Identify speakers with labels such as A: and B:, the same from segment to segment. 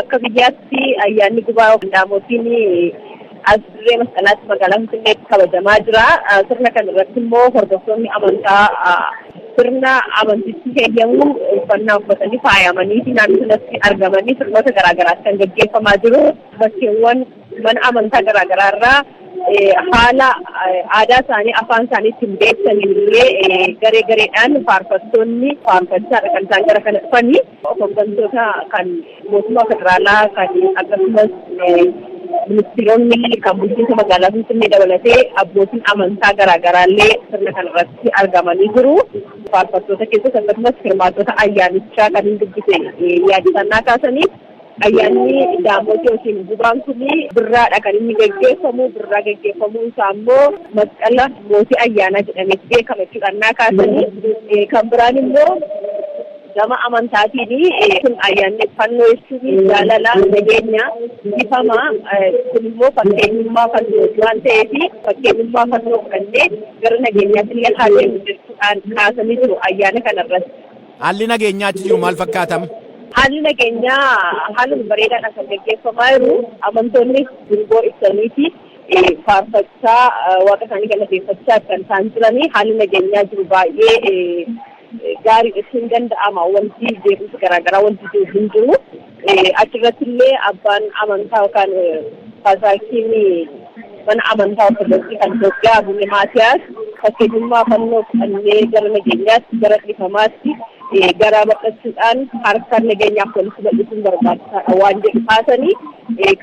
A: Akka biyyaatti ayyaanni gubaa qindaamotiin as dirree masqalaatti magaalaa Finfinneetti kabajamaa jira. Sirna kana irratti immoo hordoftoonni amantaa sirna amantichi heeyyamu uffannaa uffatanii faayamanii fi naannoo sanatti argamanii sirnoota garaagaraas kan gaggeeffamaa jiru. Bakkeewwan mana amantaa garaagaraa irraa haala aadaa isaanii afaan isaanii ittiin beeksisaniin illee garee gareedhaan faarfattoonni faarfachaa kan isaan gara kana dhufanii. Hoggantoota kan mootummaa federaalaa kan akkasumas ministeeronni kan bulchiinsa magaalaa Finfinnee dabalatee abbootiin amantaa garaagaraallee sirna kanarratti argamanii jiru. Faarfattoota keessatti akkasumas hirmaattota ayyaanichaa kan hin dubbise yaadifannaa kaasaniif Ayyaanni Daamooti yookiin Gubaan kun birraadha kan inni gaggeeffamu. Birraa gaggeeffamuu isaa immoo masqala mootii ayyaanaa jedhamee beekama jechuudha. Innaa kaasanii kan biraan immoo gama amantaatiin kun ayyaanni fannoo jechuun jaalala, nageenya, ifama. Kun immoo fakkeenyummaa fannooti waan ta'eef fakkeenyummaa fannoo fudhannee gara nageenyaatti illee haa deemnu jechuudhaan kaasanii jiru ayyaana kanarratti. Haalli nageenyaa
B: achi jiru maal fakkaatam? Haalli nageenyaa
A: haaluma bareedaadhaan kan gaggeeffamaa jiru. Amantoonni dungoo ibsaniiti faarfachaa waaqa isaanii galateeffachaa kan isaan jiranii. Haalli nageenyaa jiru baay'ee gaariidha jechuun ni danda'ama. Wanti jeequmsi garaagaraa wanti jiru hin jiru. Achirratti illee abbaan amantaa yookaan paasaakiinii mana amantaa ortodoksii kan Itoophiyaa Abune Maatiyaas fakkeenyummaa fannoo fudhannee gara nageenyaatti gara dhiifamaatti garaa bal'achuudhaan harka nageenyaaf walitti bal'isuun barbaachisaadha waan jedhu kaasanii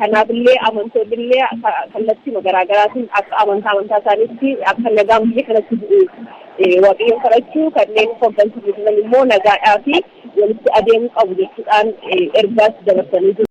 A: kanaaf illee amantoonni illee kallattiima garaa garaatiin akka amantaa amantaa isaaniitti akka nagaan biyya kanatti bu'u waaqayyoon kadhachuu kanneen hoggansa jiran immoo nagaadhaa fi walitti adeemuu qabu jechuudhaan ergaas dabarsanii jiru.